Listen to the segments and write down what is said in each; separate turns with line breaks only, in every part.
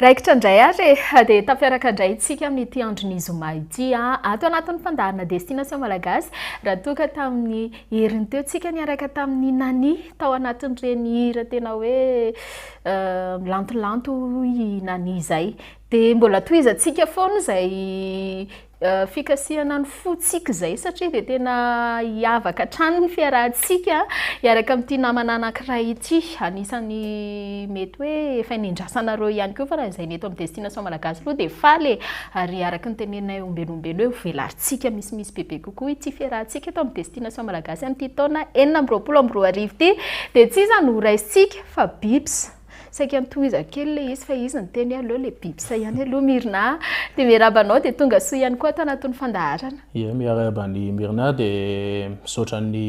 Raikitra indray ary e! dia tafiaraka indray isika amin'ity andron'ny zoma ity ato anatin'ny fandaharana Destination Malagasy raha toa ka tamin'ny heriny teo isika niaraka tamin'ny Nani tao anatin'ireny hira tena hoe milantolanto hoy i Nani izay dia mbola tohizantsika foana izay Fikasihana ny fontsika izay satria dia tena hiavaka hatrany ny fiarahantsika hiaraka amin'ity namana anankiray ity. Anisan'ny mety hoe efa nendrasanareo ihany koa fa raha izay ny eto amin'ny Destination Malagasy aloha dia faly e! Ary araka ny teneninay ombenombeno eo, velarintsika misimisy bebe kokoa ity fiarahantsika eto amin'ny Destination Malagasy amin'ity taona enina amby roapolo amby roa arivo ity. Dia tsy iza no horaisintsika fa Bips. Saika antohizako kely ilay izy fa izy niteny hoe aleo ilay biby sahy ihany aloha Myrna a! Dia miarahaba anao dia tonga soa ihany koa ato anatin'ny fandaharana. Ie, miarahaba
an'i Myrna dia misaotra an'i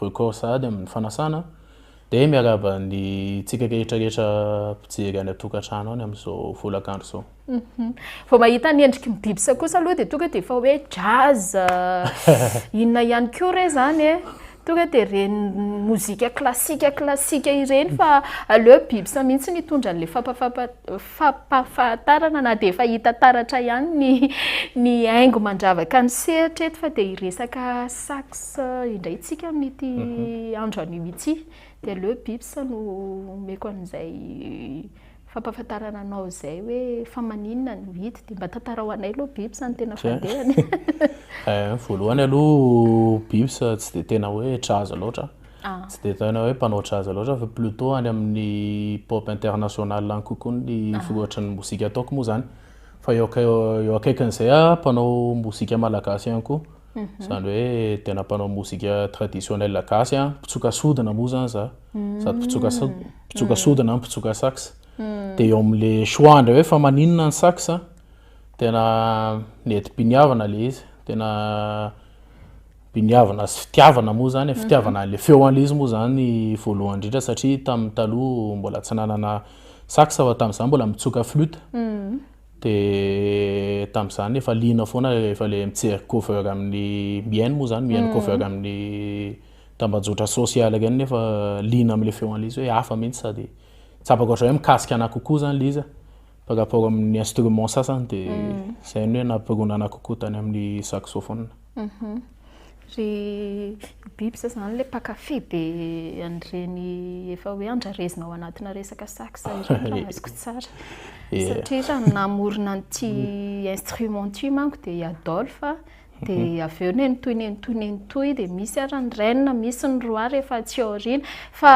Record sahady amin'ny fanasana dia miarahaba antsika rehetra rehetra mpijery any an-tokantrano any amin'izao folakandro izao. Vao
mahita ny endriky ny biby sa kosa aloha dia tonga dia efa hoe jazz, inona ihany koa re izany e? Tonga dia ireny mozika klasika klasika ireny fa aleo biby sa mihitsy no hitondra an'ilay fampahafantarana na dia efa hita taratra ihany ny ny haingo mandravaka ny sehatra eto fa dia hiresaka sax indray isika amin'ity andro anio ity dia aleo biby sa no omeko an'izay Fampafantarana anao izay hoe fa maninona no hita dia mba tantarao anay aloha Bips a ny tena fandehany. Eh,
voalohany aloha Bips tsy dia tena hoe jazz loatra, ah. tsy dia tena hoe mpanao jazz loatra fa plutôt any amin'ny pop international any kokoa ny ah. voatry ny mozika ataoko moa izany. Fa eo akaikin'izay aho mpanao mozika malagasy ihany koa. Izany hoe tena mpanao mozika traditionnelle gasy an, mpitsoka sodina moa izany za, hmm. sady mpitsoka mpitsoka sodina an, mpitsoka sax. Hmm. Dia eo amin'le choix indray hoe fa maninona ny sax an, tena nety biniavana le izy, tena biniavana sy fitiavana moa zany, mhm. fitiavana an'ilay feo an'ilay izy moa zany voalohany indrindra satria tamin'ny taloha mbola tsy nanana sax fa tamin'izany mbola mitsoka flute. Mhm. Dia tamin'izany efa liana foana rehefa ilay mijery cover amin'ny mihaino moa izany, mihaino cover amin'ny tambajotra sosialy ireny nefa liana amin'ilay feo an'i Liza hoe hafa mihitsy sady tsapako hatrany hoe mikasika anà kokoa izany Liza par rapport amin'ny instrument sasany dia izay no hoe nampirona anà kokoa tany amin'ny saxophone. Ry
biby zao izany ilay mpankafy be an'ireny efa hoe andrarezina ao anatina resaka sax ireny raha azoko tsara. Satria raha ny namorona an'ity instrument ity manko dia i Adolphe, dia avy eo nenitohy nenitohy nenitohy dia misy ary ny reine, misy ny roi rehefa aty aoriana. Fa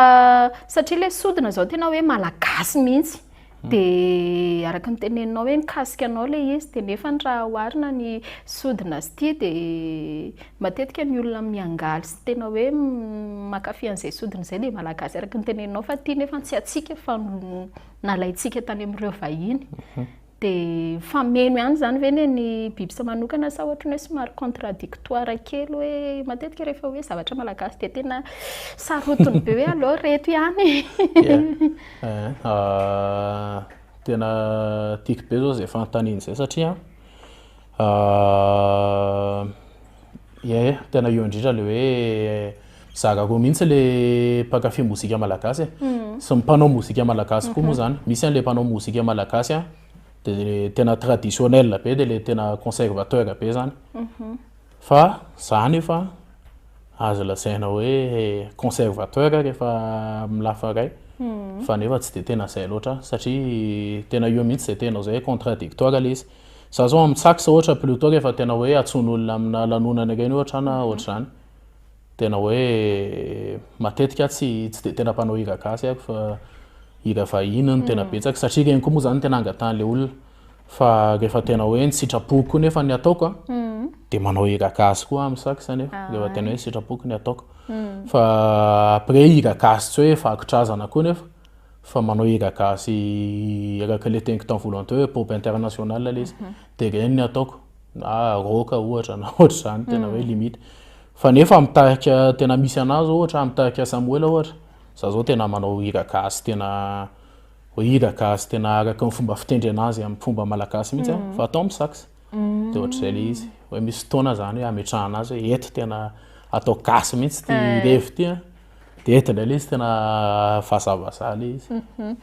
satria ilay sodina izao tena hoe malagasy mihitsy, Dia araka ny teneninao hoe mikasika anao ilay izy, dia nefa raha oharina ny sodina sy ity dia matetika ny olona miangaly sy tena hoe mankafy an'izay sodina izay dia malagasy araka ny teneninao fa ity nefa tsy antsika fa nalaintsika tany amin'ireo vahiny. Mhm. Dia mifameno ihany izany ve anie ny bibisa manokana sa ohatran'ny hoe somary contradictoire kely hoe matetika rehefa hoe zavatra malagasy dia tena sarotiny be hoe aleo ireto ihany.
Tena tiako be izao izay fanontaniana izay satria ie tena eo indrindra ilay hoe zaka koa mihitsy ilay mpankafy mozika malagasy e, sy ny mpanao mozika malagasy koa moa izany, misy an'ilay mpanao mozika malagasy dia tena traditionnel be dia ilay tena conservateur be izany. Fa za nefa azo lazaina hoe conservateur rehefa amin'ny lafa iray fa nefa tsy dia tena izay loatra aho satria tena eo mihitsy izay tena izay hoe contradictoire ilay izy. Za izao amin'ny tsax ohatra plutot rehefa tena hoe antsoin'olona amina lanonana ireny ohatra na ohatr'izany. Tena hoe matetika tsy tsy dia tena mpanao hira gasy aho fa hira vahiny no tena mm. betsaka satria ireny koa moa zany tena angatahan'ilay olona fa rehefa tena hoe ny sitrapoko koa nefa ny ataoko a mm. dia manao hira gasy koa amin'ny sax anefa ah. rehefa tena hoe ny sitrapoko ny ataoko mm. fa après hira gasy tsy hoe vakontrazana koa nefa fa manao hira gasy araka ilay teniko tamin'ny voalohany teo hoe pop international ilay izy mhm. dia ireny ny ataoko na roka ohatra na ohatra izany tena mm. hoe limite fa nefa mitarika tena misy anazy ohatra mitarika samoela ohatra za zao tena manao hira gasy tena hoe hira gasy tena araka ny fomba fitendry anazy amin'ny fomba malagasy mihitsy mm. fa atao amin'ny sax mm. de ohatr'izay le izy hoe misy fotoana zany hoe ametrahana azy hoe eto tena atao gasy mihitsy ty revy ty Dedy indray ilay izy tena vazavaza ilay izy. Mhm.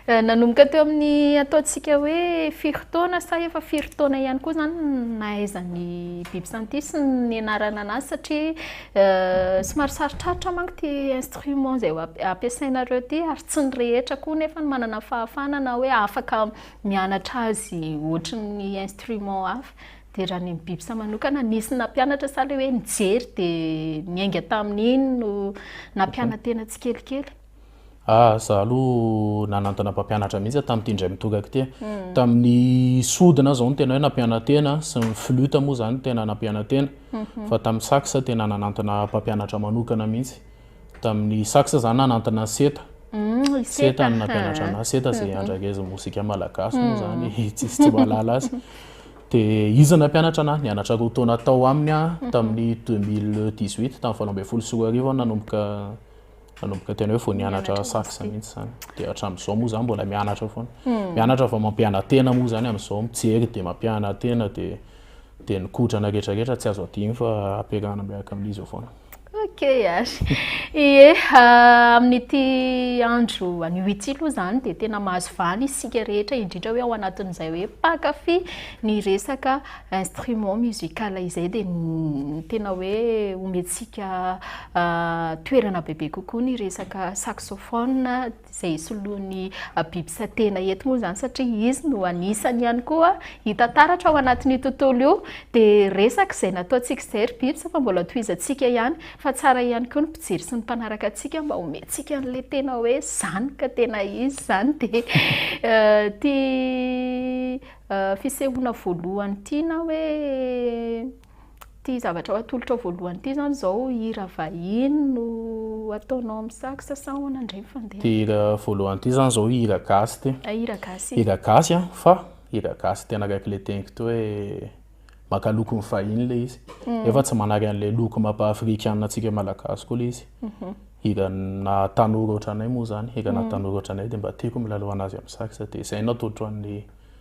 Eh, nanomboka
teo amin'ny ataontsika hoe firy taona sa efa firy taona ihany koa izany nahaizan'ny biby santis ny anarana anazy satria eh, somary sarotrarotra manko ity instrument izay ampiasainareo ity ary tsy ny rehetra koa nefa ny manana fahafana na hoe afaka mianatra azy ohatry ny instrument hafa. Dia raha ny Bibsa manokana, nisy nampianatra sa ilay hoe nijery dia niainga tamin'iny no nampiana-tena tsikelikely? Ah, za
aloha nanantona mpampianatra mihitsy aho tamin'ity indray mitokako ity. Hmm. Tamin'ny sodina izao no tena hoe nampiana-tena, sy ny flute moa izany tena nampiana-tena. Hmm. Fa tamin'ny sax tena nanantona mpampianatra manokana mihitsy. tamin'ny sax zany nanantona ny seta seta ny nampianatra anahy seta zay mhm. andragezy mozika malagasy moa mhm. zany tsisy tsy mahalala azy dia izy nampianatra anahy nianatra roa taona tao aminy a mhm. tamin'ny 2018 tamin'ny valo ambin'ny folo sy roa arivo nanomboka nanomboka tena hoe vao nianatra sax mihitsy zany dia hatramin'izao moa zany mbola mianatra foana mianatra vao mampianatena moa zany amin'izao mijery dia mampianatena dia dia ny kodrana rehetrarehetra tsy azo adino fa ampiarahana miaraka amin'izy eo foana Ok ary.
Ie, amin'ity andro anio ity aloha izany dia tena mahazo vahana isika rehetra indrindra hoe ao anatin'izay hoe mpankafy ny resaka instrument musical izay dia tena hoe omentsika toerana bebe kokoa ny resaka saxophone. izay soloan'ny biby satena eto moa izany satria izy no anisany ihany koa hita taratra ao anatin'io tontolo io dia resaka izay nataontsika izay ry biby fa mbola tohizantsika ihany fa tsara ihany koa ny mpijery sy ny mpanaraka antsika mba homentsika an'ilay tena hoe izany ka tena izy izany dia ity fisehoana voalohany ity na hoe Ity zavatra ho atolotrao voalohany ity izany izao hira vahiny no ataonao amin'ny sax sa ahoana indray ny fandehany? Ity hira voalohany
ity izany izao hira gasy ity. Ah, hira gasy. Hira
gasy an, fa
hira gasy tena akaiky ilay teniko ity hoe maka lokon'ny vahiny ilay izy. Mm. Nefa tsy manary an'ilay loko mapa afrikana antsika malagasy koa ilay izy. Mhm. Hira na tanora ohatranay moa izany, hira na mm. tanora ohatranay dia mba tiako milalao an'azy amin'ny sax dia izay no atolotro an'ny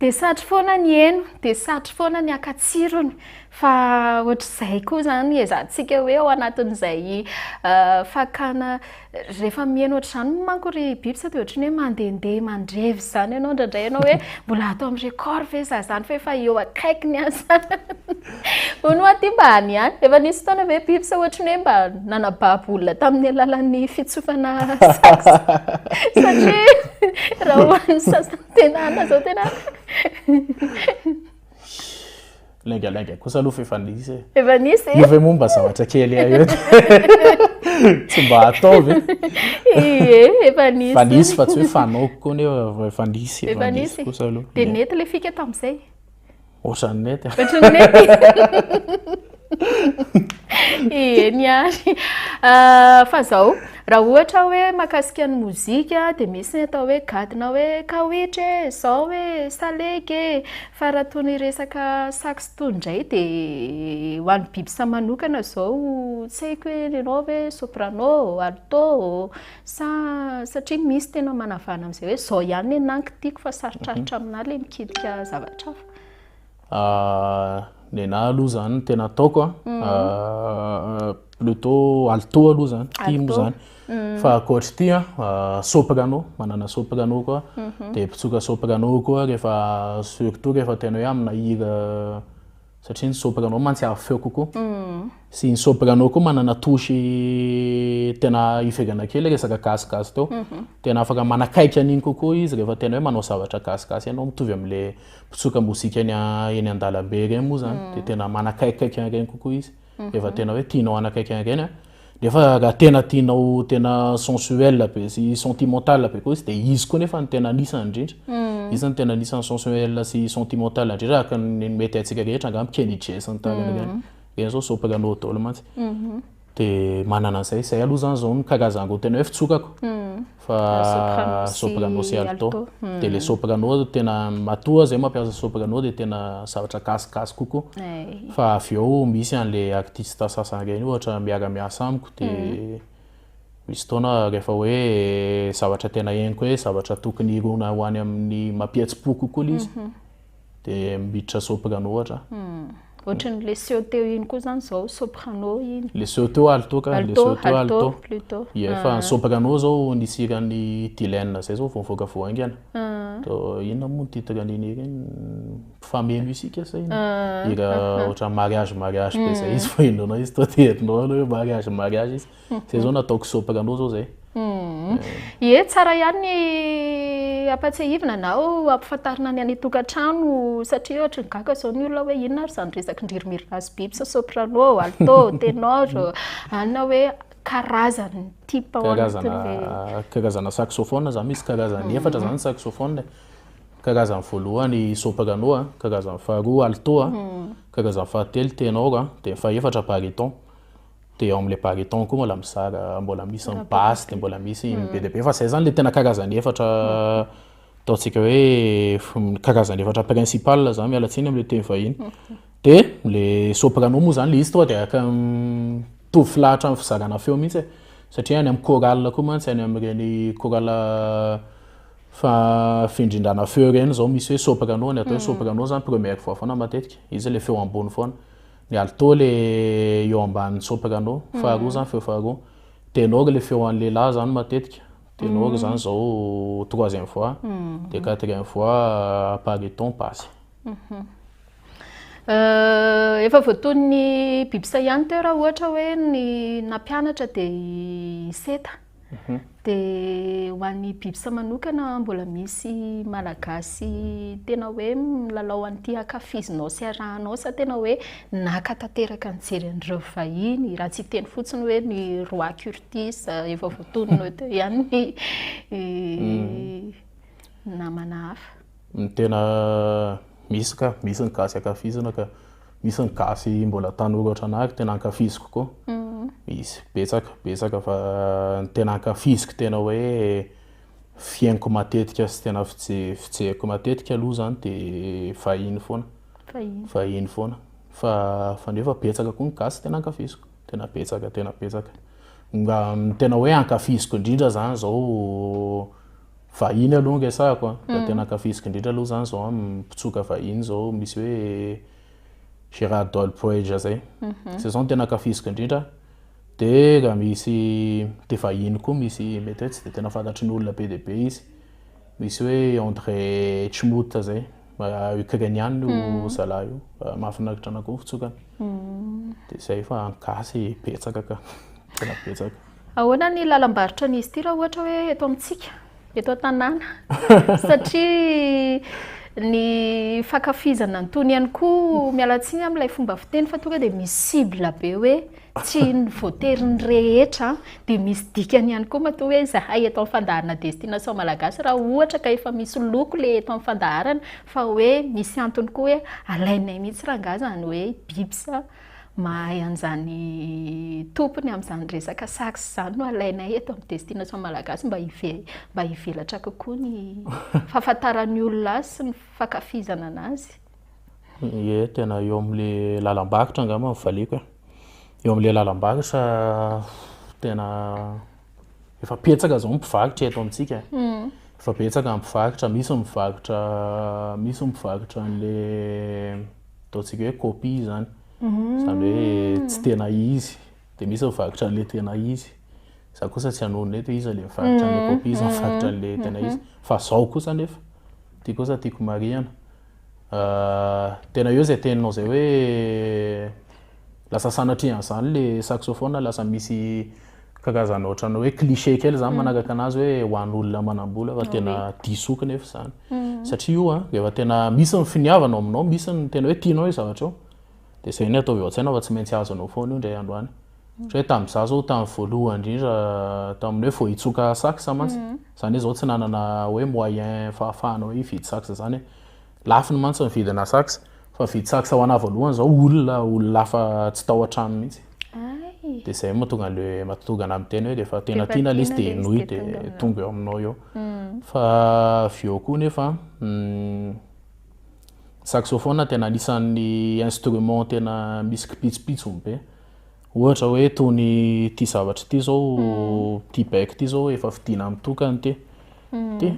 Dia satry foana ny heno, dia satry foana ny haka tsirony, fa ohatr'izay koa izany ezantsika hoe ao anatin'izay fakana, rehefa miheno ohatr'izany manko ry biby sao dia ohatry ny hoe mandehandeha mandrevy izany ianao indraindray ianao hoe mbola ato amin'ny record ve izaho izany fa efa eo akaikiny aza hono hoa ity mba any ihany, efa nisy fotoana ve biby sao ohatry ny hoe mba nanababo olona tamin'ny alalan'ny fitsofana sax? satria raha ho an'ny sasany Tena ana
zao tena. Lainga lainga kosa aloha fa efa nisy e. Efa nisy e. Efa
momba zavatra
kely ayo. Tsy mba ataovy. Ie,
efa nisy. Efa nisy fa tsy hoe fanaoko
koa nefa efa nisy. Efa nisy kosa aloha. Dia nety le fika
tamin'izay. Ohatran'ny
nety. Ohatran'ny
nety. Eny ary. Ah, fa zao, raha ohatra hoe makasika ny mozika dia misy ny atao hoe gadona hoe kawitry e, zao e, salegy e. Fa raha toy ny resaka sax tony ndray dia ho an'i bibsa manokana zao tsy haiko hoe ianao ve soprano, alto. Sa satria misy tena manavana amin'izay hoe izao ihany ny nenahy no kitiko fa sarotrarotra aminà ilay mikitika zavatra hafa?
Ny nenahy aloha izany tena ataoko a, plutôt alito aloha izany, tim Alito. izany. Fa ankoatry ity a, soprano, manana soprano koa, dia mpitsoka soprano koa rehefa surtout rehefa tena hoe aminà hira satria ny soprano mantsy avo feo kokoa sy ny soprano koa manana touche tena ivelana kely resaka gasigasy teo mhm. tena afaka manakaiky an'iny kokoa izy rehefa tena hoe manao zavatra gasigasy ianao mitovy amin'le mpitsoka mozika eny an-dalambe ireny moa zany mhm. dia tena manakaikaiky an'ireny kokoa izy Efa tena hoe tianao hanakaiky an'ireny an! Nefa raha tena tianao tena sensuel be sy sentimental be koa izy dia izy koa nefa ny tena anisany indrindra. Mm. Izy no tena anisany sensuel sy sentimental indrindra araka ny mety haintsika rehetra angamba Kenny J sy ny tariny ireny. Mm. Ireny izao soprano dolo mantsy. Mhm. Dia manana an'izay. Izay aloha izany izao no karazany roa tena hoe fitsokako. Mm. fa soprano sy alto dia le soprano tena matoa zay mampiasa soprano dia tena zavatra gasygasy kokoa eh. fa avy eo misy an'le artiste sasany ireny ohatra miara-miasa amiko dia hmm. misy taona rehefa hoe zavatra tena henoko hoe zavatra tokony hirona ho any amin'ny mampihetsi-po kokoa le izy mhm. dia miditra soprano ohatra. Hmm. Ohatran'ny le
seho teo iny koa zany zao soprano iny. Le seho teo alto ka,
le seho teo alto. Plutôt. Yeah, fa ah.
soprano
zao nisy hiran'ny Dylan zay zao vao nivoaka vao haingana. Ah. To inona moa ny titre an'iny ireny? Famille musique sa inona? Ah. Hira ohatran'ny mariage mariage be zay hmm. izy vao henonao izy to dia herinao aloha hoe mariage mariage izy. Zay zao natao kisopaka anao zao zay. Hmm. Ie,
tsara ihany ny ampatsiahivina na ampifantarina ny any tokantrano satria ohatry ny gaga zao ny olona hoe inona ary zany resaky ndririmiri razy biby sa soprano, alto, tenor, anina hoe karazany type ao anatin'le
karazana saxophone zany misy karazany hmm. efatra zany saxophone. Karazany voalohany soprano, karazany faharoa alto, hmm. karazany fahatelo tenor, dia fahefatra bariton. dia eo amin'ilay baryton koa mbola mizara mbola misy ny basse dia mbola misy ny be dia be fa izay izany ilay tena karazany efatra ataontsika hoe karazany efatra principal izany miala tsiny amin'ilay teny vahiny dia ilay soprano moa izany ilay izy toa dia araka mitovy filahatra amin'ny fizarana feo mihitsy e. satria any amin'ny chorale koa mantsy any amin'ireny chorale fa findrindrana feo ireny izao misy hoe soprano ny atao hoe soprano izany première voix foana matetika izy ilay feo ambony foana Mialy too le eo ambanin'ny soprano faharoa zany feo faharoa. Ténor le feo an'ny lehilahy zany matetika. Ténor zany zao troisième voix dia quatrième voix baryton basse.
Efa voatonon'ny biby saillant teo raha ohatra hoe ny nampianatra dia i seta. Mhm. Dia ho an'ny Bibsa manokana, mbola misy Malagasy tena hoe milalao an'ity ankafizinao sy arahanao sa tena hoe naka tanteraka nijery an'ireo vahiny, raha tsy hiteny fotsiny hoe ny roi Curtis, efa voatonona eo teo ihany ny mm. namana hafa. Ny tena
misy ka, misy ny gasy ankafizina ka. Misy ny gasy mbola tanora ohatranà ary tena ankafiziko koa. Misy, betsaka, betsaka fa ny tena ankafiziko tena hoe fihainoko matetika sy tena fijeriko matetika aloha izany dia vahiny foana. Vahiny. Vahiny foana. Fa fa nefa betsaka koa ny gasy tena ankafiziko. Tena betsaka, tena betsaka. Tena hoe ankafiziko indrindra izany izao vahiny aloha anga sahako a, raha tena ankafiziko indrindra aloha zany zao mpitsoka vahiny zao misy hoe Gerard Doyle Poeja zay, zay zao no tena ankafiziko indrindra, dia raha misy dia vahiny koa misy mety hoe tsy dia tena fantatry ny olona be dia be izy, misy hoe André Chmouta zay, Ukrainiana io zalahy io, mahafinaritra anakoa ny fitsokany, dia zay fa ny gasy betsaka ka, tena betsaka. Ahoana ny
lalam-barotra an'izy ity raha ohatra hoe eto amintsika, eto an-tanàna? Satria ny fankafizana ny tony ihany koa, miala tsiny amin'ilay fomba fiteny fa tonga dia misy cible be hoe tsy ny voatery ny rehetra, dia misy dikany ihany koa matoa hoe izahay eto amin'ny fandaharana Destination Malagasy raha ohatra ka efa misy loko ilay eto amin'ny fandaharana fa hoe misy antony koa hoe alainay mihitsy rangahy izany hoe biby sa. mahay an'izany tompony amin'izany resaka sax izany no alainay eto amin'ny Destination Malagasy mba mba hivelatra kokoa ny fahafantaran'ny olona azy sy ny fankafizana anazy. Ie,
tena eo amin'ilay lalam-bakotra angamba ny valiako e. Eo amin'ilay lalam-bakotra tena efa betsaka izao ny mpivarotra eto amintsika. Hmm. Efa betsaka ny mpivarotra, misy mivarotra, misy mivarotra an'ilay ataontsika hoe copie izany, izany hoe tsy tena izy, dia misy ny vakotra an'ilay tena izy, za kosa tsy hanonona eto hoe iza ilay mivarotra an'ilay copie, iza mivarotra an'ilay tena izy, fa zao kosa anefa, ity kosa tiako marihana, tena eo izay teninao izay hoe lasa sanatrian'izany ilay saxophone, lasa misy Kakazana ohatran'ny hoe cliché kely zany mm. managaka anazy hoe ho an' olona manambola fa tena diso oka nefa zany mm. satria io a efa tena misy ny finiavana ao aminao misy ny tena hoe tianao io zavatra io de zay ny ataovy ao tsaina fa tsy maintsy azo anao foana io ndray andro any mm. hoe tamin'ny za zao tamin'ny voalohany indrindra tamin'ny hoe vao hitsoka sax mantsy zany hoe zao tsy nanana hoe moyen fahafahana hoe hividy sax zany Lafo ny mantsy ny vidina sax fa vidy sax ho anah voalohany zao olona olona hafa tsy tao an-trano mihitsy dia zay moa tonga le matonga anah miteny hoe rehefa tena tiana le izy dia henoy dia tonga eo aminao eo hmm. fa avy eo koa nefa hmm, saxophone tena anisan'ny instrument tena misy kipitsopitso be ohatra hoe tony ty zavatra ty zao hmm. ty bec ty zao efa fidina mitokany ty ty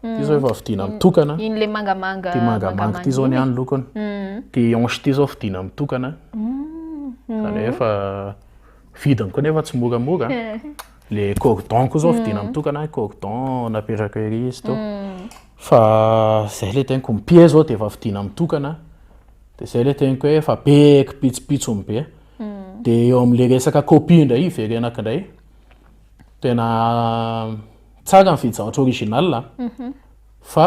Ity izao efa vidiana mitokana. Iny le mangamanga. Ity
mangamanga ity
izao ny any lokony. Mm. Ity hanche ity izao vidiana mitokana. Mm. Izany hoe efa vidiny koa nefa tsy moramora. Le cordon koa izao mm. vidiana mitokana, cordon napetraka ery izy to. Mm. Fa izay le teniko mipia izao dia efa vidiana mitokana. Dia izay le teniko hoe efa be kipitsipitsony be. Dia eo amin'ilay resaka copie indray hiverenako indray. Tena Tsara ny fidy zavatra original a. Mhm. Fa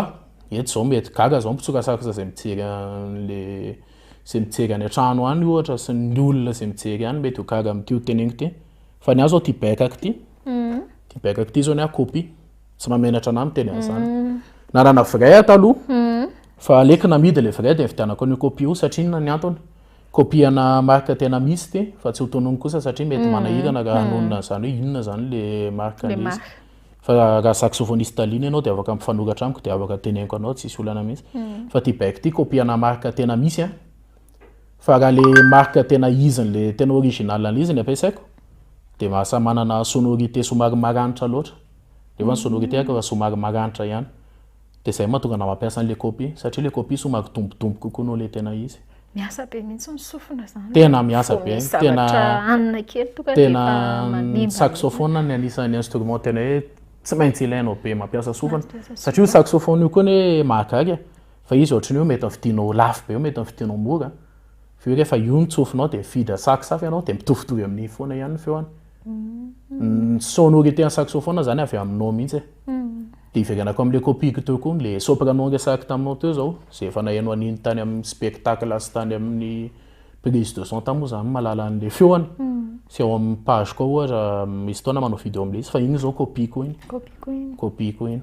eto zao mety gaga zao ny mpitsokatsaksa zay mijery an'le zay mijery any an-trano any ohatra sy ny olona zay mijery any mety ho gaga amin'ity ho teneniko ity. Fa ny ahy zao ty baikako ty, mhm. ty baikako ty zao ny ahy copie. Tsy mahamenatra an'ahy miteny an'zany. Mhm. Nanana vrai aho taloha fa aleoko namidy le vrai de nividianako an'io copie io satria inona ny antony? Kopihana marika tena misy ity fa tsy ho tonony kosa satria mety mm. manahirana raha mm. hanonona izany hoe inona izany le marika nisy. Fa raha saxophoniste Talina ianao dia afaka mifanoratra amiko dia afaka teneniko anao tsisy olana mihitsy. Mm. Fa ty baiko ty kopihana marika tena misy an. Fa raha le marika tena izy le tena original an'izy ny ampiasaiko dia mahasa manana sonorité somary maranitra loatra. Nefa ny sonorité ako raha somary maranitra ihany. Dia izay mahatonga anao hampiasa an'ilay copy, satria ilay copy somary kidombodombo kokoa noho ilay tena izy. Miasa be mihitsy
ny sofina zany. Tena miasa be,
tena tena
ny saxophone no
anisan'ny instrument tena hoe tsy maintsy ilainao be mampiasa sofina, satria io saxophone io koa anie mahagaga e, fa izy ohatran'ny hoe mety vidinao lafo be io mety vidinao mora, vu que efa io ny tsofinao dia mividy sax hafa ianao dia mitovitovy amin'iny foana ihany ny feony. ny sonorité ny saxophone zany avy aminao mihitsy e de hiverenako amle copieko teo koa le soprano niresahako taminao teo zao zay efa nahaino an'iny tany amin'ny spectacle sy tany amin'ny prise de son tany moa zany mahalala an'le feony sy ao amin'ny page koa ohatra misy fotoana manao video amle izy fa iny zao copieko iny copieko iny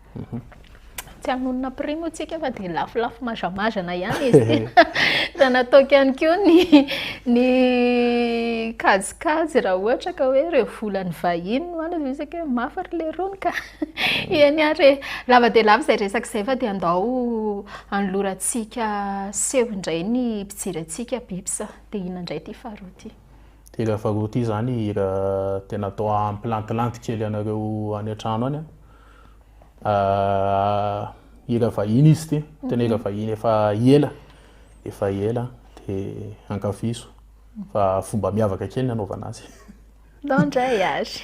Tsy hamono
napri moa tsika fa dia lafolafo mazamazana ihany izy ity. Dia nataoko ihany koa ny ny kajikajy raha ohatra ka hoe ireo volan'ny vahiny no any dia isika hoe mafy ry leirony ka. Eny ary e! Lava dia lava izay resaka izay fa dia andao anolorantsika seho indray ny mpijery antsika Bips. Dia inona indray ity faharoa ity? Ity hira faharoa
ity izany hira tena atao hampilantilanty kely anareo any an-trano any an! hira vahiny izy ity, tena hira vahiny efa ela, efa ela dia ankafizo fa fomba miavaka kely ny anaovana azy. Bon
voyage.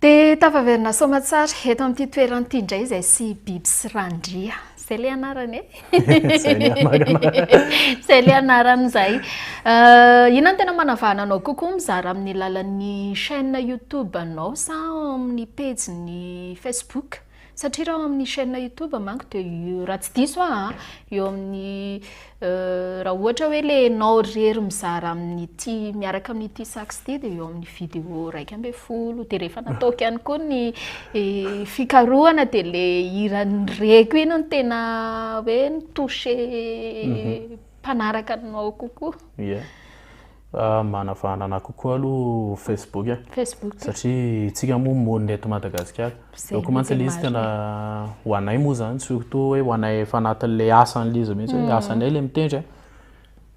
Dia tafaverina soamatsara eto amin'ity toerana ity indray izay sy Biby sy Randria. Izay ilay anarany e? Izay ilay anarana. Izay ilay anarana izay. Euh, inona no tena manavahana anao kokoa mizara amin'ny lalan'ny chaîne YouTube-nao sa amin'ny pejin'ny Facebook? Satria raha ao amin'ny chaîne youtube manko dia eo raha tsy diso aho an, eo amin'ny raha ohatra hoe ilay ianao irery mizara amin'ity miaraka amin'ity sax ity dia eo amin'ny vidéo iraika ambin'ny folo dia rehefa nataoko ihany koa ny fikarohana dia ilay hiran'ny reko iny no tena hoe ni-toucher mhm. mpanaraka anao kokoa. Yeah.
Manavahana anah kokoa aloha Facebook a. Facebook. Satria isika moa monina eto Madagasikara. Donc mantsy ilay izy tena ho anay moa zany surtout hoe ho anay efa anatin'ilay asan'ilay izy mihitsy hoe asanay ilay mitendry a.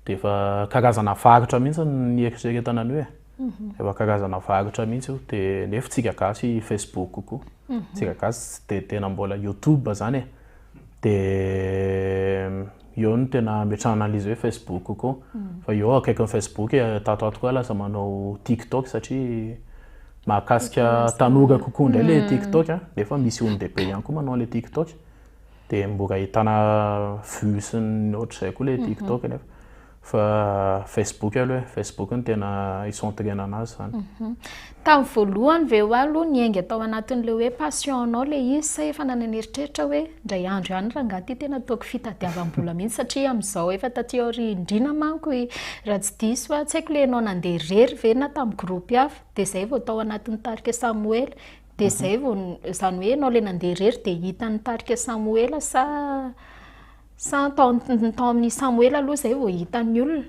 Dia efa karazana varotra mihitsy ny nieritreretana an'io e. Efa karazana varotra mihitsy io dia nefa isika gasy Facebook kokoa. Isika gasy tsy dia tena mbola YouTube zany e. Dia. Eo no tena ametrahana an'ilay izy hoe Facebook koa. Fa eo akaikin'ny Facebook, tato ato koa lasa manao TikTok satria mahakasika tanora kokoa indray ilay TikTok nefa misy olon-dehibe ihany koa manao an'ilay TikTok. Dia mbola ahitana vues sy ny ohatr'izay koa ilay TikTok nefa. Fa Facebook aloha e, Facebook no tena hicentrena anazy zany. Tamin'ny
voalohany ve hoa aloha niainga tao anatin'ilay hoe passion-nao ilay izy sa efa nananeritreritra hoe indray andro ihany rangaha ity tena ataoko fitadiavam-bola mihitsy satria amin'izao efa taty aoriandriana manko i raha tsy diso aho, tsy haiko ilay ianao nandeha irery ve na tamin'ny groupe hafa dia izay vao tao anatin'ny tarika Samoela dia izay vao izany hoe ianao ilay nandeha irery dia hitan'ny tarika Samoela sa Sa tao amin'i Samoela aloha izay vao hitan'ny olona?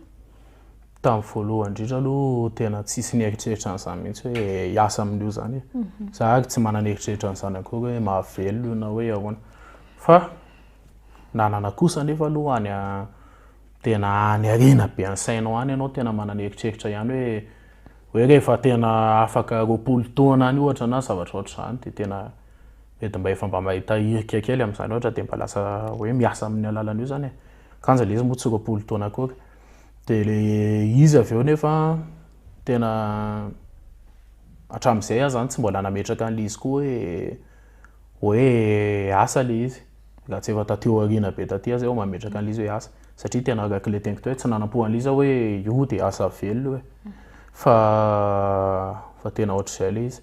Tamin'ny
voalohany indrindra aloha tena tsisy nieritreritra an'izany mihitsy hoe hiasa amin'io izany e. Mhm. Za ary tsy manana eritreritra an'izany akory hoe mahavelona io na hoe ahoana. Fa nanana kosa nefa aloha any tena any arena be any sainao any ianao tena manana eritreritra ihany hoe hoe rehefa tena afaka roapolo taona any ohatra na zavatra ohatr'izany dia tena Dia dia mba efa mba mahita hirika kely amin'izany ohatra dia mba lasa hoe miasa amin'ny alalan'io izany e. Kanja ilay izy moa tsy roapolo taona akory. Dia ilay izy avy eo nefa tena hatramin'izay aho izany tsy mbola nametraka an'ilay izy koa hoe hoe asa ilay izy. Raha tsy efa taty aoriana be taty aho izay vao mametraka an'ilay izy hoe asa. Satria tena araka ilay teniko teo hoe tsy nanampo an'ilay izy aho hoe io dia asa velona io e. Fa fa tena ohatr'izay ilay izy.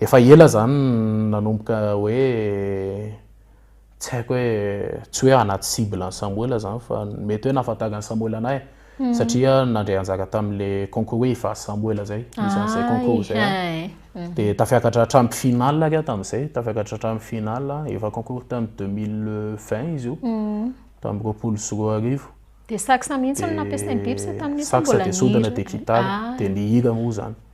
Efa ela zany nanomboka hoe tsy haiko hoe tsy hoe anaty cible an'i Samoela zany fa mety hoe nahafantaran'i Samoela anay hmm. satria nandray anjara tamin'le concours hoe ivazo Samoela zay isan'izay ah, concours zay hmm. dia tafiakatra hatramin'ny finale ary tamin'izay tafiakatra hatramin'ny finale efa concours tamin'ny 2020 izy io hmm. tamin'ny roapolo sy roa arivo dia saksa
mihitsy no nampiasain'i Bibsa tamin'io saksa dia sodana dia
kitara ah. dia ny hira moa zany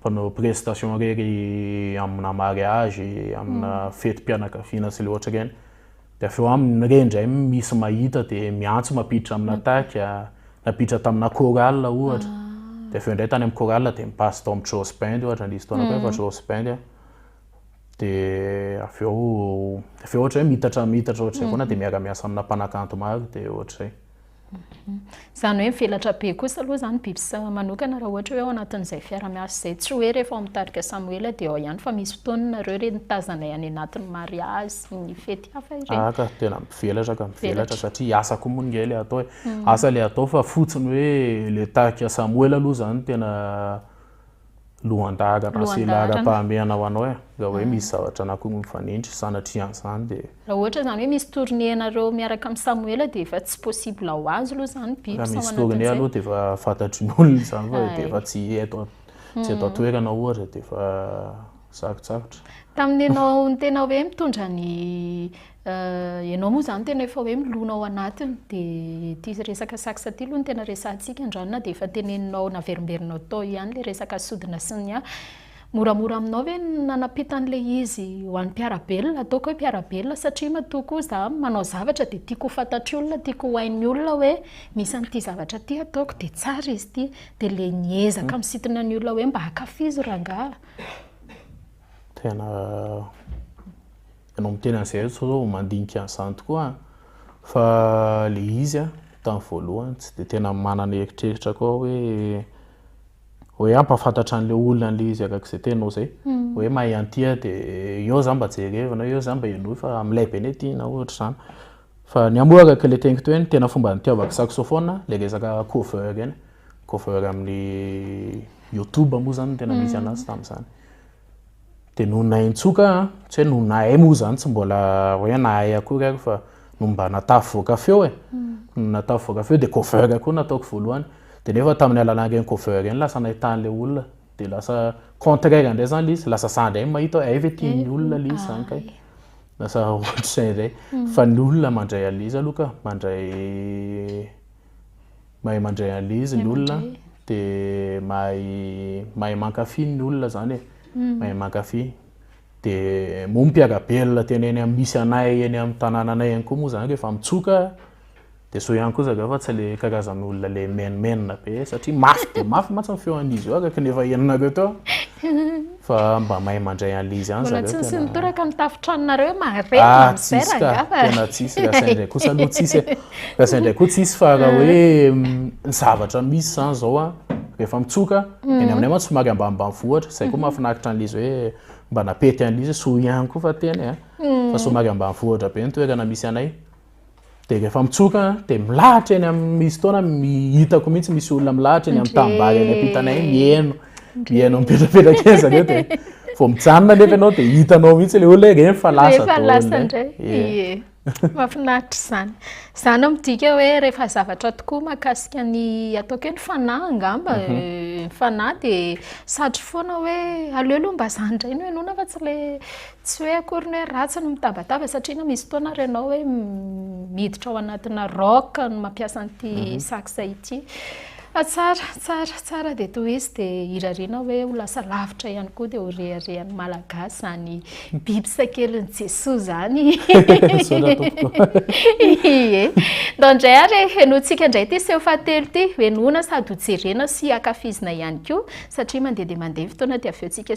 Mpanao prestation irery amina mariage, amina fetim-pianakaviana sy le ohatra ireny. Dia avy eo aminy ny re indray misy mahita dia miantso mampiditra amina tac, nampiditra tamina chorale ohatra. Dia avy eo indray tany amin'ny chorale dia mi-passe tao amin'ny Joss Band ohatra, nisy fotoana koa efa Joss Band an. Dia avy eo, avy eo ohatra hoe miitatra miitatra ohatr'izay foana dia miara-miasa amina mpanakanto maro dia ohatr'izay.
Izany hoe mivelatra be kosa aloha izany biby sasany manokana raha ohatra hoe ao anatin'izay fiaraha-miasa izay. Tsy hoe rehefa ao amin'ny tarika Samoela dia ao ihany fa misy fotoana nareo ireny nitazanay any anatin'ny mariazy sy ny fety hafa ireny. Ahy ka tena mivelatra ka
mivelatra satria asa koa moa ingahy ilay atao e. Asa ilay atao fa fotsiny hoe ilay tarika Samoela aloha izany tena. lohan-dahatra na sela ara-pahamehana ho anao e, raha hoe misy zavatra anankiroa mifanindry, sanatria an'izany dia. Raha ohatra izany hoe misy
tournée anareo miaraka amin'i Samoela dia efa tsy possible ho azy aloha izany bips ao anatin'izay. Raha misy tournée aloha dia
efa fantatrin'olona izany fa dia efa tsy eto tsy eto an-toerana ohatra dia efa sarotsarotra. Tamin'ny ianao
no tena hoe mitondra ny. Ianao moa izany tena efa hoe milona ao anatiny dia ity resaka sax ity aloha no tena resahantsika andrano na dia efa teneninao naverimberinao tao ihany ilay resaka sodina sy ny hafa. Moramora aminao ve ny nanampiana an'ilay izy ho an'ny mpiara-belona? Ataoko hoe mpiara-belona satria matoa koa izaho manao zavatra dia tiako ho fantatr'ny olona, tiako ho hain'ny olona hoe misy an'ity zavatra ity ataoko dia tsara izy ity. Dia ilay miezaka misintona ny olona hoe mba ankafizo rangahy.
Tena Enao miteny an'izay aho sao sao mandinika an'izany tokoa aho fa le izy a tamin'ny voalohany tsy dia tena manana eritreritra koa hoe hoe hampafantatra an'ilay olona an'ilay izy arak'izay tenao izay hmm. hoe mahay an'ity aho dia eo za mba jerevina eo za mba henoy fa milay be ny aty na ohatra izany fa ny amoa araka ilay teniko teo ny tena fomba nitiavako saxophone ilay resaka cover ireny cover amin'ny youtube moa izany no tena misy hmm. anazy tamin'izany dia nonahy nitsoka aho, tsy hoe nonahy moa izany tsy mbola hoe nahay akory ary fa no mba natafy voaka feo e, no natafy voaka feo dia cover koa no nataoko voalohany, dia nefa tamin'ny alalan'ireny cover ireny lasa nahitana an'ilay olona, dia lasa contraire indray izany ilay izy, lasa za indray no mahita hoe hay ve tian'ny olona ilay izy izany kay, lasa ohatr'izay indray, fa ny olona mandray an'ilay izy aloha ka, mandray. mahay mandray an'izy ny olona dia mahay mahay mankafy ny olona izany e, hmm. mahay mankafy. Dia moa mpiagabelona tena eny amin'ny misy anay eny amin'ny tanànanay ihany koa moa izany rehefa mitsoka dia so ihany koa zareo fa tsy le karazan'olona le menomenona be satria mafy dia mafy mantsy ny feon'izy io araka ny efa henonareo teo. Fa mba mahay mandray an'le izy ihany zareo tena. Mbola tsy nisy nitoraka amin'ny
tafon-tranonareo mahareta ah, amin'izay rangahy fa. Tena
tsisy raha sahy indray koa sa aloha tsisy eh. Raha sahy indray koa tsisy fa raha hoe ny zavatra misy zany zao ah rehefa mitsoka mhm. eny aminay mantsy somary ambanimbany vohitra zay koa mhm. mahafinaritra an'le izy hoe mba napety an'le izy soa ihany koa fa tena eh. mhm. fa somary ambany vohitra be ny toerana misy anay Dia rehefa mitsoka dia milahatra eny amin'ny misy fotoana hitako mihitsy misy olona milahatra eny amin'ny tanimbary eny am-pitana eny mihaino. Mihaino mipetrapetraka eny izany hoe dia vao mijanona nefa ianao dia hitanao mihitsy ilay olona hoe reny fa lasa daholo. Rehefa lasa indray. Ie.
Mahafinaritra izany. Izany no midika hoe rehefa zavatra tokoa mahakasika ny ataoko hoe ny fanahy angamba. Ny fanahy dia satry foana hoe aleo aloha mba izany indray no henoina fa tsy ilay Tsy hoe akory ny hoe ratsy ny mitabataba satria na misy fotoana ary ianao hoe miditra ao anatina rock no mampiasa an'ity mhm. sax ity. Fa tsara, tsara, tsara dia toy izy dia irariana hoe ho lasa lavitra ihany koa dia ho reharehan'ny malagasy izany biby sakelin'i Jesoa izany. Ie. Ndao indray ary henointsika indray ity seho fahatelo ity, henoina sady hojerena sy hakafizina ihany koa satria mandeha dia mandeha fotoana dia avy eo tsika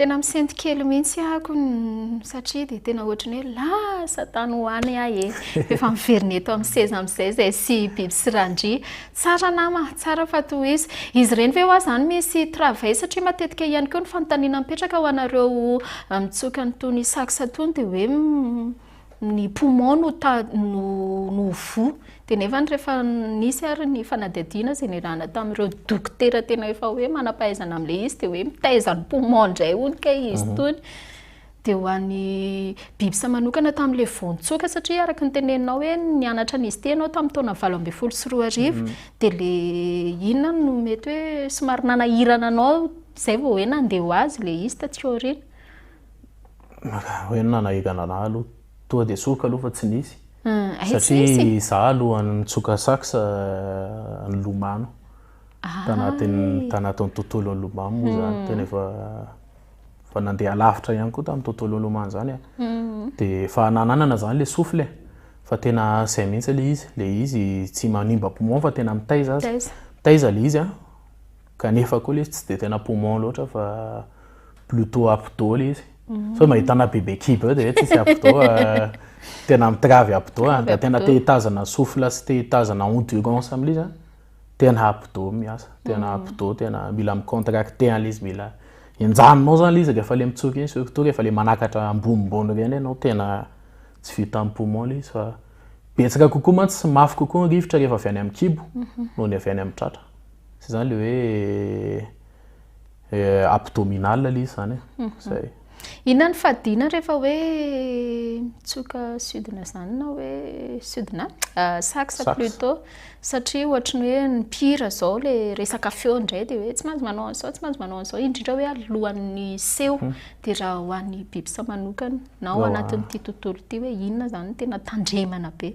tena misento kely mihitsy ahako satria dia tena ohatry ny hoe lasa tany ho any ahy e. Efa miverina eto amin'ny seza amin'izay izay sy biby sy randria. Tsara nama, tsara fa tohizo. Izy ireny ve hoa zany misy travail satria matetika ihany koa ny fanontaniana mipetraka ho anareo mitsoka ny tony sax tony dia hoe ny poumon no no no voa dia nefany rehefa nisy ary ny fanadihadiana izay niarahana tamin'ireo dokotera tena efa hoe manam-pahaizana amin'ilay izy dia hoe mitaiza ny poumon indray hono kay izy tony. Dia ho an'ny Bibsa manokana tamin'ilay vao nitsoaka, satria araka ny teneninao hoe nianatra an'izy ity ianao tamin'ny taona valo ambin'ny folo sy roa arivo, mhm. dia ilay inona no mety hoe somary nanahirana anao izay vao hoe nandeha ho azy ilay izy tatsika aoriana? Raha hoe
nanahirana anao aloha, toa dia soroko aloha fa tsy nisy. Hmm, satria izaho aloha nitsoka sax eh, nilomano ah, tanatin'ny tanatin'ny tontolon'ny lomamo moa izany, hmm. tena efa Fa nandeha lavitra ihany koa tamin'ny tontolo nilomano izany a. Dia efa nananana izany ilay souffle e. Fa tena izay mihitsy ilay izy. Ilay izy tsy manimba poumon fa tena mitaiza aza. Mitaiza ilay izy an, kanefa koa ilay izy tsy dia tena poumon loatra fa plutôt abdos ilay izy. Sao dia mahita anà bebe kibo eo dia hoe tsisy abdos a. Tena mitravy abdos a. Raha tena te hitazana souffle sy te hitazana endurance amin'ilay izy an. tena abdo miasa tena mm. abdo tena mila micontracte an'le izy mila enjaninao zany le izy rehefa le mitsoka iny surtout rehefa le manakatra ambonimbony reny ianao tena tsy vita amin'ny poumon le izy fa betsaka kokoa mantsy sy mafy kokoa ny rivotra rehefa avy any amin'ny kibo mhm. noho ny avy any amin'ny tratra sy zany le hoe Eh, abdominal aloha izy zany e. Mhm. Zay. Inona ny
fadiana rehefa hoe mitsoka sudina zany na hoe sudina ah, sax Sax. plutot satria ohatry ny hoe ny mpihira zao le resaka feo indray de hoe tsy maintsy manao an'izao tsy maintsy manao an'izao indrindra hoe alohan'ny seho de raha ho an'ny bibisa manokana na ao Ao, ah. anatin'ity tontolo ity hoe inona zany no tena tandremana be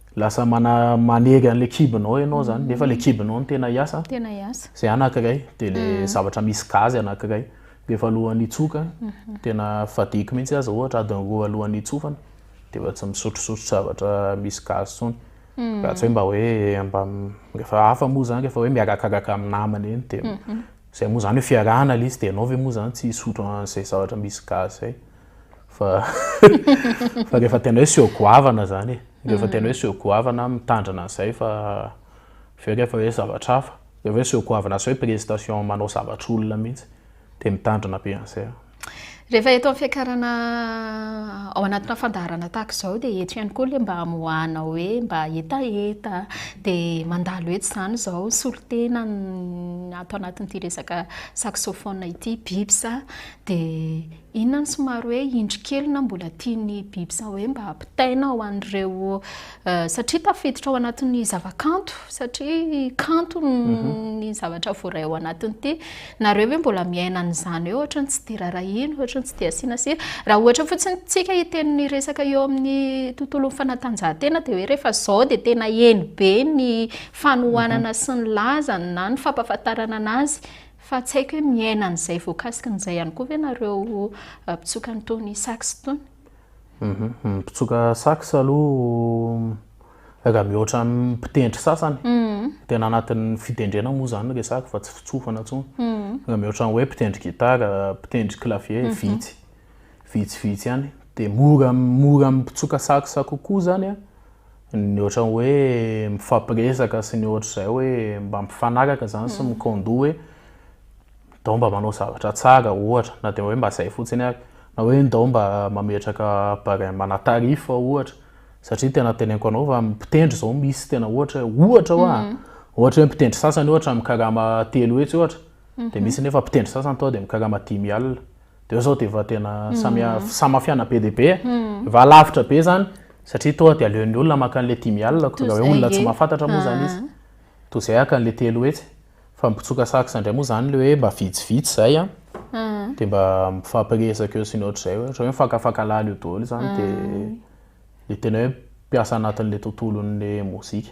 Lasa mana manery an'ilay kibonao ianao zany, nefa ilay kibonao no tena hiasa. Tena hiasa. Zay anankiray, dia le mm. zavatra misy gazy anankiray. Rehefa alohan'ny hitsoka, mhm. tena fadiko mihitsy aza ohatra adiny roa alohan'ny hitsofana, dia efa tsy misotrosotro zavatra misy gazy tsony. Mm. Raha tsy hoe mba hoe mba rehefa hafa moa zany rehefa hoe miarakaraka amin'ny namana eny dia mhm. zay moa zany hoe fiarahana le izy dia ianao ve moa zany tsy hisotro an'izay zavatra misy gazy zay. fa fa rehefa tena hoe seho goavana zany e rehefa tena hoe seho goavana mitandrina an'izay fa avy eo rehefa hoe zavatra hafa rehefa hoe seho goavana sy hoe prestation manao zavatra olona mihitsy dia mitandrina be an'izay aho Rehefa eto amin'ny
fiakarana ao anatina fandaharana tahaka izao dia eto ihany koa ilay mba hamoahana hoe mba hetaheta dia mandalo eto izany izao solontena ny ato anatin'ity resaka saxophone ity Bips a dia Inona no somary hoe indry kely na mbola tian'ny biby sa hoe mba ampitaina ho an'ireo satria tafiditra ao anatin'ny zavakanto satria kanto mhm. ny zavatra voaray ao anatin'ity nareo hoe mbola miaina an'izany hoe ohatrany tsy dia rarahina ohatrany tsy dia asiana sira raha ohatra fotsiny tsika hiten'ny resaka eo amin'ny tontolon'ny fanatanjahantena dia hoe rehefa zao dia tena eny be ny fanohanana mhm. sy ny lazany na ny fampafantarana anazy Fa tsy haiko hoe miaina an'izay voakasiky an'izay ihany koa ve ianareo mpitsoka an'itony sax itony? Ny
mpitsoka sax aloha raha mihoatra ny mpitendry sasany, tena anatin'ny fitendrena moa izany no resahako fa tsy fitsofana intsony. Raha mihoatra ny hoe mpitendry gitara, mpitendry clavier, vitsy. Vitsivitsy ihany. Dia mora mora amin'ny mpitsoka sax kokoa izany an. Ny ohatran'ny hoe mifampiresaka sy ny ohatr'izay hoe mba mifanaraka izany sy mi-kondo hoe ndao mba manao zavatra tsara ohatra, na dia hoe mba izay fotsiny ary, na hoe ndao mba mametraka barème ana tarif ohatra, satria tena teneniko anao fa mpitendry izao misy tena ohatra hoe ohatra hoa a, ohatra hoe mpitendry sasany ohatra mikarama telo hetsy ohatra, dia misy nefa mpitendry sasany tonga dia mikarama dimy alina. Teo zao dia efa tena samia hmm. samafiana be dia be eh. hmm. efa lavitra be zany satria toa dia aleon'ny olona maka an'ilay dimy alina ko dia hoe olona tsy mahafantatra moa zany izy toa izay haka an'ilay telo hetsy fa mipitsoka saksa indray moa zany le hoe mba vitsivitsy izay an ah. hmm. dia mba mifampiresaka eo sy ny ohatr'izay hoe hoe mifakafaka laly eo daholo izany dia le tena hoe mpiasa anatin'ilay tontolon'ilay mozika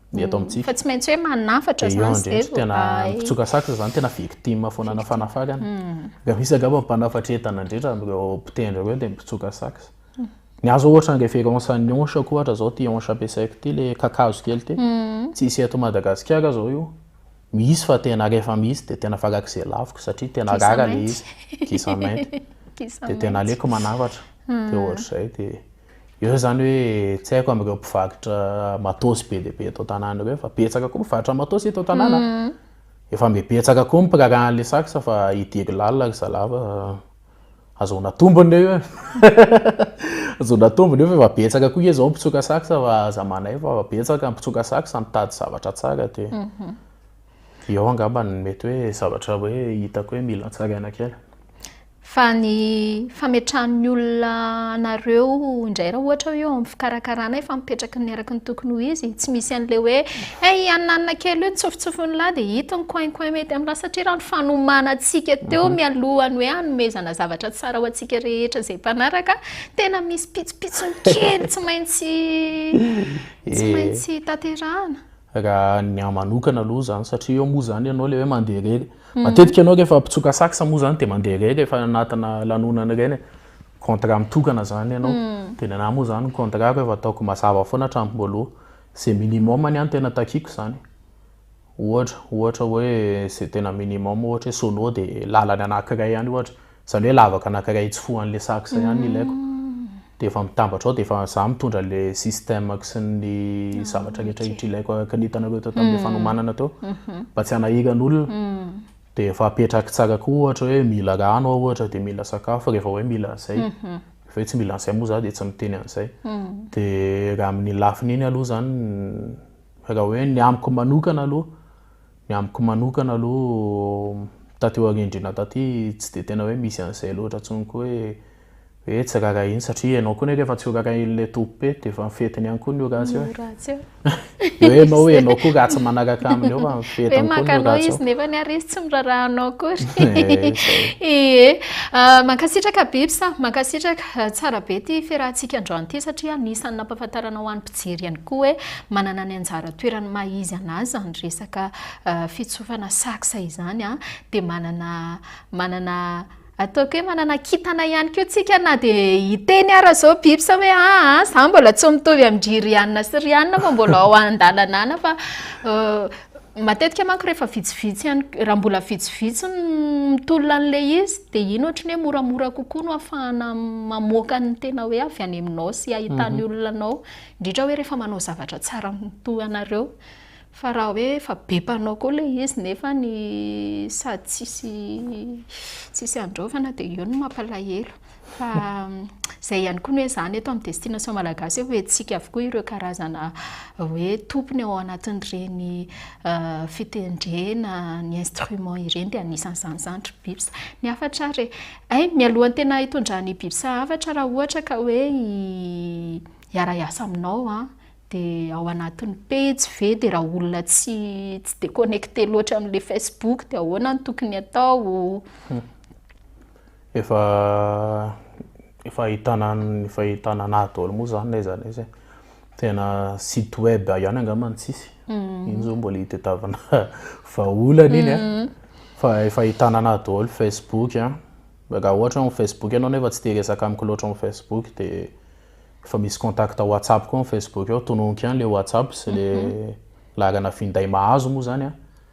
ny
eto amintsika. Fa tsy
maintsy hoe manafatra
Dia eo zany indray zay tena vao hay. mpitsoka
sax zany tena victime foanana fanafakana. Dia misy angamba ny mpanafatra entana indrindra amin'ireo mpitendry ireo dia ny mpitsoka sax. Ny ahy zao ohatra ny révérence an'ny hanche-ko ohatra zao ity hanche ampiasaiko ity le kakazo kely ity. Tsy hisy eto Madagasikara zao io. Misy fa tena rehefa misy dia tena farak'izay laviko satria tena Kisa rara le mainty. izy. Kisa mainty. Kisa Dia tena mainty. aleoko manafatra. Dia ohatr'izay dia. Eo izany hoe tsy haiko amin'ireo mpivarotra matôsy be dia be eto an-tanàna ireo fa betsaka koa mpivarotra matôsy eto an-tanàna. Mm. Efa mbe betsaka koa ny mpiraharaha an'ilay sax fa hidiry lalina ry zalava. Ahazoana tombony eo. Ahazoana tombony eo fa efa betsaka koa izao mpitsoka sax fa aza manaivo fa efa betsaka mpitsoka sax mitady zavatra tsara dia. Mhm. Eo angamba ny mety hoe zavatra hoe hitako hoe mila tsaraina kely. Fa
ny fametrahan'ny olona anareo indray raha ohatra hoe eo amin'ny fikarakarana efa mipetraka ny araka ny tokony ho izy, tsy misy an'ilay hoe hey, io haninanina kely io tsofotsofon'lah dia hita ny coin coin mety amin'lah satria raha ny fanomanantsika teo mhm. mialohan'ny hoe hanomezana zavatra tsara ho antsika rehetra izay mpanaraka tena misy pitsopitsony kely tsy maintsy tsy eh. maintsy tanterahana. raha ny
ahy manokana aloha izany satria eo moa izany ianao ilay hoe mandeha irery. Mhm. Matetika ianao rehefa mpitsoka sax moa izany dia mandeha irery rehefa anatina lanonana ireny. Contrat mitokana izany ianao. Mhm. Dia ny anà moa izany ny contrat-ko efa ataoko mazava foana hatramin'ny voalohany. Izay minimum ny ahy no tena takiako izany. Ohatra, ohatra hoe izay tena minimum ohatra hoe solo dia làlany anankiray ihany ohatra. Zany hoe lavaka anakiray etsy foan'le sax ihany ilaiko de efa mitambatra ao de efa za mitondra le système-ko sy ny zavatra rehetra rehetra ilaiko araka ny hitanareo tao tamin'le fanomanana tao mba tsy hanahiran'olona de efa apetrako tsara koa ohatra hoe mila rano aho ohatra de mila sakafo rehefa hoe mila an'zay rehefa hoe tsy mila an'zay moa za de tsy miteny an'zay de raha amin'ny lafiny iny aloha zany raha hoe ny amiko manokana aloha Ny amiko manokana aloha taty aoriandriana taty tsy dia tena hoe misy an'izay loatra intsony koa hoe hoe tsy rarahiana satria ianao koa nefa efa tsy ho rarahian'ilay tompom-pety dia efa ny fetiny ihany koa ny ho ratsy hoe ratsy eo dia hoe ianao ianao koa ratsy manaraka aminy eo fa ny fetiny koa ny ho ratsy eo izy nefa ny ary izy tsy
miraraha anao akory ee mankasitraka Bips mankasitraka tsara be ity fiarahantsika androany ity satria anisan'ny nampahafantarana ho an'ny Jery ihany koa hoe manana ny anjara toerany maha izy an'azy izany resaka fitsofana sax izany an, dia manana manana ataoko hoe manana kintana ihany koa tsika na dia hiteny ara zao bips hoe aa za mbola tsy mitovy amin-dry riana sy riana fa mbola ao an-dalana ana fa Matetika manko rehefa vitsivitsy ihany, raha mbola vitsivitsy ny mitolona an'ilay izy dia iny ohatry ny hoe moramora kokoa no ahafahana mamoaka ny tena hoe avy any aminao sy ahitan'ny mhm. olona anao, indrindra hoe rehefa manao zavatra tsara toa anareo. Fa raha hoe efa be mpanao koa ilay izy nefa ny sady tsisy tsisy andraofana dia eo no mampalahelo. Fa izay ihany koa ny hoe izany eto amin'ny destination malagasy hoe hoentintsika avokoa ireo karazana hoe tompony ao anatin'ireny fitendrena ny instrument ireny dia anisan'izany izany ry bips. Ny hafatra ary ay mialohan'ny tena hitondran'ny bips hafatra raha ohatra ka hoe hiara-hiasa aminao an, dia ao anatin'ny pejy ve dia raha olona tsy tsy dia connecté loatra amin'ilay facebook dia ahoana no tokony atao? Efa
efa ahitana efa ahitana anahy daholo moa zany n'aiza n'aiza e. Tena site web ihany angamba no tsisy. Iny zao mbola itadiavana vahaolana iny a. Fa efa ahitana anahy daholo Facebook a, raha ohatra hoe Facebook ianao nefa tsy te hiresaka amiko loatra amin'ny Facebook de efa misy contact WhatsApp koa amin'ny Facebook ao, tononiko ihany le WhatsApp sy le laharana finday mahazo moa zany a.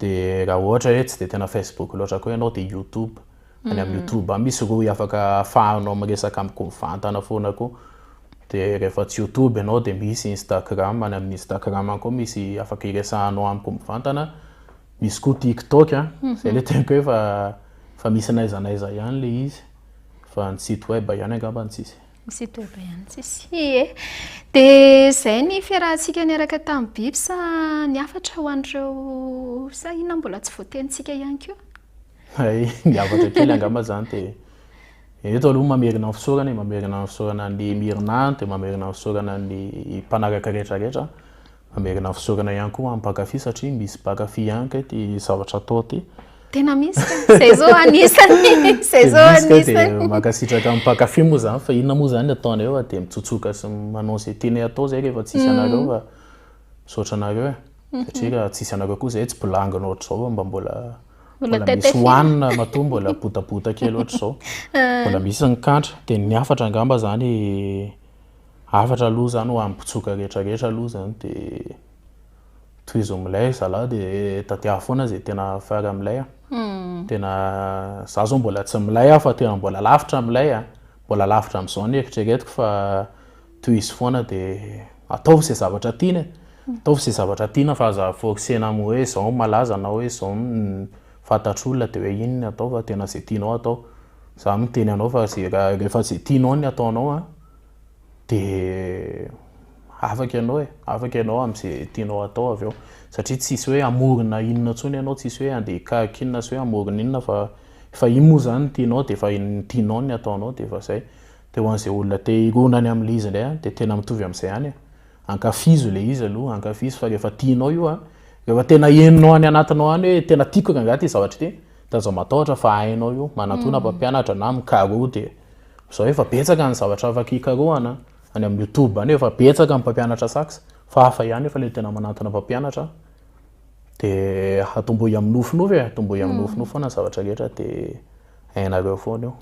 dia raha ohatra hoe tsy dia tena Facebook loatra koa ianao dia YouTube any amin'ny mm. YouTube any misy rohy afaka ahafahanao miresaka amikovatana foana koa dia rehefa tsy YouTube ianao dia misy Instagram any amin'ny Instagram any koa misy afaka iresahanao amiko mivantana misy koa TikTok a mhm. zay le tenko hoe fa fa misy naiza naiza ihany le izy fa ny site web ihany angamba ny tsisy Misy dobo ihany
tsisy. Ie. Dia izay ny fiarahantsika niaraka tamin'ny biby sa ny hafatra ho an'ireo sa inona mbola tsy voatenintsika ihany koa? Hay,
ny hafatra kely angamba izany dia eto aloha mamerina ny fisaorana e, mamerina ny fisaorana ny mirina, dia mamerina ny fisaorana ny mpanaraka rehetra rehetra. Hamerina fisaorana ihany koa ho an'ny mpankafy satria misy mpankafy ihany kay ity zavatra atao ity. Tena misy
kay, izay zao anisany, izay zao anisany. Dia misy kay dia mankasitraka amin'ny mpankafy
moa izany fa inona moa izany ny ataonareo fa dia mitsotsoka sy manao izay tianay atao izay rehefa tsisy anareo fa misaotra anareo e. Satria raha tsisy anareo koa izay tsy bolangana ohatr'izao fa mba mbola mbola misy hohanina matoa mbola botabota kely ohatr'izao. Mbola misy ny kantra dia ny hafatra angamba izany Hafatra aloha zany ho an'ny mpitsoka rehetra rehetra aloha zany de tohizo milay zalah de tadiavo foana zay tena fara milay a. Hmm. Tena za zao mbola tsy milay aho fa tena mbola lavitra milay a. Mbola lavitra amizao ny eritreretiko fa tohizo foana de ataovy zay zavatra tiana e. Hmm. Ataovy zay zavatra tiana fa aza forcer-na amin'ny hoe zao no malaza na hoe zao no fantatr'olona de hoe iny no atao fa tena zay tianao atao. Za miteny anao fa zay raha rehefa zay tianao ny ataonao a. dia afaka ianao e, afaka ianao amin'izay tianao atao avy eo satria tsisy hoe hamorona inona intsony ianao, tsisy hoe andeha hikaroka inona sy hoe hamorona inona fa fa iny moa izany no tianao dia efa ny tianao no ataonao dia efa izay, dia ho an'izay olona te hirona any amin'ilay izy indray an, dia tena mitovy amin'izay ihany e, ankafizo ilay izy aloha, ankafizo fa rehefa tianao io an, rehefa tena henonao any anatinao any hoe tena tiako rangaha ity zavatra ity, dia aza matahotra fa hainao io, manatòna mpampianatra na mikaroha dia. Zao efa betsaka ny zavatra afaka hikarohana any amin'ny youtube any efa betsaka ny mpampianatra sax fa hafa ihany efa le tena manantona mpampianatra de hatomboy amin'ny nofinofy e hatomboy amin'ny hmm. nofinofy foana ny zavatra rehetra de hainareo foana io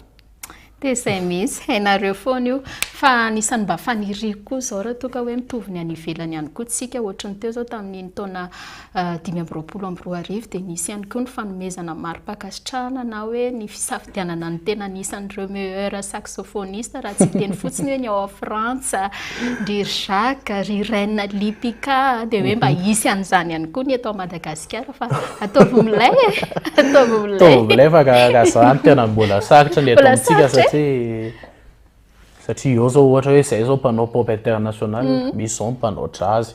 de zay
misy hainareo foana io fa anisan'ny mba faniriko koa zao raha toa ka hoe mitovy ny any ivelany ihany koa tsika ohatry ny teo zao tamin'iny taona dimy amby roapolo amby roa arivo dia nisy ihany koa ny fanomezana mari-pankasitrahana na hoe ny fisafidianana ny tena anisan'ireo meilleur saxophoniste raha tsy hiteny fotsiny hoe ny ao Frantsa, ry Jacques, ry Reine Lipika dia hoe mba hisy an'izany ihany koa ny eto Madagasikara fa ataovy milay e! ataovy milay! Ataovy milay fa ka izany tena
mbola sarotra ny eto amintsika satria satria eo izao ohatra hoe izay izao mpanao pop international, misy izao mpanao jazz.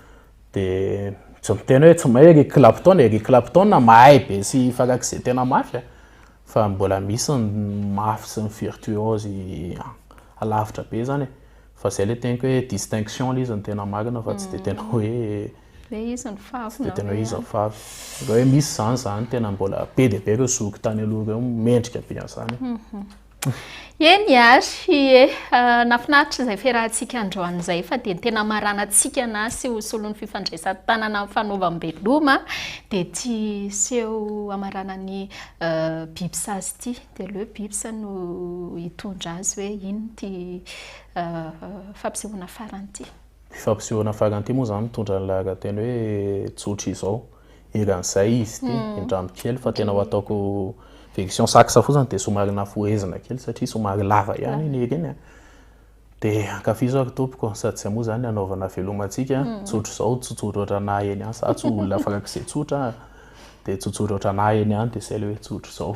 Dia tsy miteny hoe tsy mahay Eric Clapton, Eric Clapton mahay be sy farak'izay tena mafy a. Fa mbola misy ny mafy sy ny virtuose alavitra be zany e. Fa izay ilay teniko hoe distinction ilay izy no tena marina fa tsy dia tena hoe Ilay izy no favy
na hoe. Tsy dia tena hoe izy no favy.
Raha hoe misy izany izany tena mbola be dia be ireo zoky tany aloha ireo mendrika be an'izany.
Eny ary, ie. Nahafinaritra izay fiarahantsika androany izay fa dia ny tena hamaranantsika na sy ho solon'ny fifandraisan-tanana amin'ny fanaovam-beloma dia ity seho hamaranan'ny biby sazy ity. Dia aleo bips no hitondra azy hoe inona ity fampisehoana farany ity. Ity fampisehoana farany
ity moa izany mitondra ny laharan-teny hoe tsotra izao. eran'izay izy ity indramby kely fa tena ho ataoko version sax fotsiny dia somary nafohezina kely satria somary lava ihany iny hira iny a. Dia ankafizo ary tompoko a, sady izay moa izany hanaovana havelomantsika a, tsotra izao, tsotsotra ohatranà eny ihany, za tsy olona farak'izay tsotra a, dia tsotsotra ohatranà eny ihany dia izay ilay hoe tsotra. zao.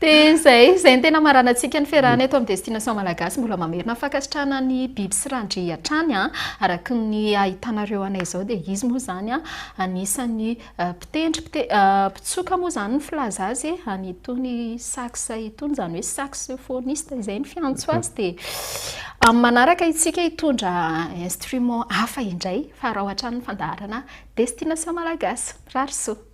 Dia
izay, izay no tena maranantsika ny fiarahana eto amin'ny Destination Malagasy. Mbola mamerina fankasitrahana ny biby sy randri hatrany. Araka ny ahitanareo anay izao dia izy moa izany anisan'ny mpitendry, mpitsoka moa izany ny filaza azy an'itony sax itony, izany hoe saxophoniste izay no fiantso azy. Dia amin'ny manaraka isika hitondra instrument hafa indray fa araho hatrany ny
fandaharana
Destination Malagasy. Mirary
soa.